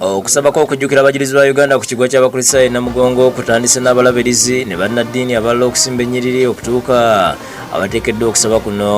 okusaba kw'okujjukira abajulizi ba uganda ku kigwa ky'abakristaayo namugongo kutandise n'abalabirizi ne bannaddiini abalala okusimba ennyiriri okutuuka abateekeddwa okusaba kuno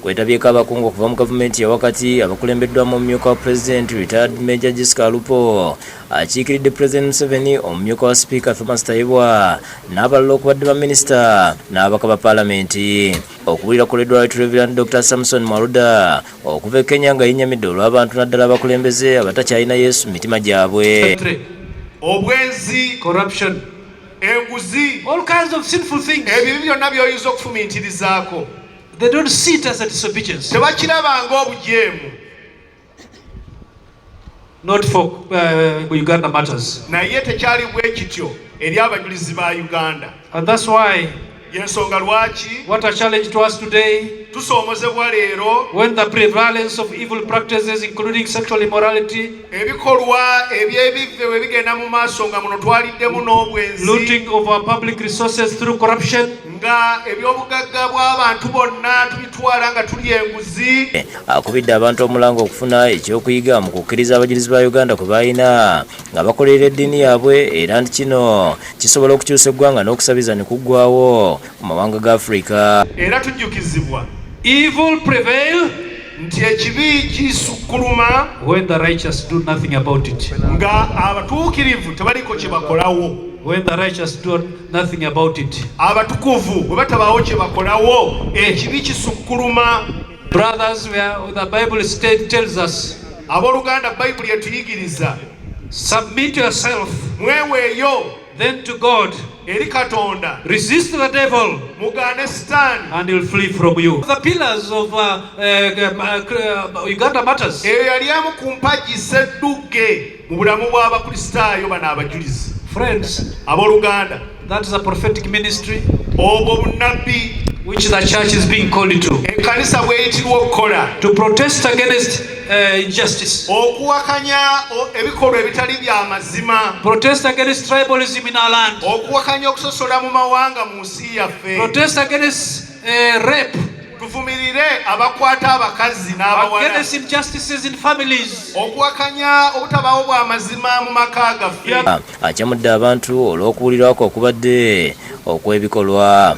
Kwetabyeko abakungu okuva mu gavumenti yawakati abakulembeddwamu omumyuka wa pulezidenti retired major Jessica Alupo akiikiridde pulezidenti Museveni, omumyuka wa sipiika Thomas Tayebwa n'abalala okubadde baminisita n'ababaka ba palamenti. Okuwulira kuleddwa Right Reverend Dr. Samson Mwaluda okuva e Kenya nga yennyamidde olw'abantu naddala abakulembeze abatakyalina Yesu mu mitima gyabwe. Obwenzi, corruption, enguzi, all kinds of sinful things, ebyo byonna by'oyinza okufumintirizaako. They don't see it as a disobedience. Tebakiraba nga obujeemu. Not for uh, Uganda matters. Naye tekyali bwe kityo eri abajulizi ba Uganda. And that's why yensonga lwaki what a challenge to us today tusoomozebwa leero when the prevalence of evil practices including sexual immorality ebikolwa eby'ebivve bwe bigenda mu maaso nga muno twaliddemu n'obwenzi looting of our public resources through corruption nga ebyobugagga bw'abantu bonna tubitwala nga tuli enguzi akubidde abantu omulanga okufuna ekyokuyiga mu kukkiriza abajulizi ba uganda kwe balina nga bakolerera eddiini yaabwe era nti kino kisobola okukyusa eggwanga n'okusabiza ne kuggwawo ku mawanga ga Afrika. Era tujjukizibwa evil prevail nti ekibi kisukkuluma when the righteous do nothing about it, nga abatuukirivu tebaliko kye bakolawo when the righteous do nothing about it, abatukuvu bwe batabaawo kye bakolawo ekibi kisukkuluma. Brothers, we are, the Bible state tells us abooluganda bayibuli etuyigiriza submit yourself mweweeyo Then to God. Eri Katonda. Resist the devil. Mugaane Sitaani. And he'll flee from you. The pillars of uh, uh, uh, Uganda Martyrs. Eyo yali emu ku mpagi sseddugge mu bulamu bw'Abakristaayo bano abajulizi. Friends. Abooluganda. That is a prophetic ministry. Obwo bunnabbi. Which the church is being called to. Ekkanisa bw'eyitibwa okukola. To protest against uh, injustice. Okuwakanya ebikolwa ebitali bya mazima. Protest against tribalism in our land. Okuwakanya okusosola mu mawanga mu nsi yaffe. Protest against uh, rape. Tuvumirire abakwata abakazi n'abawala. Against injustices in families. Okuwakanya obutabawo bwa mazima mu maka gaffe. Acamudde abantu olw'okuwulirwako okubadde okw'ebikolwa.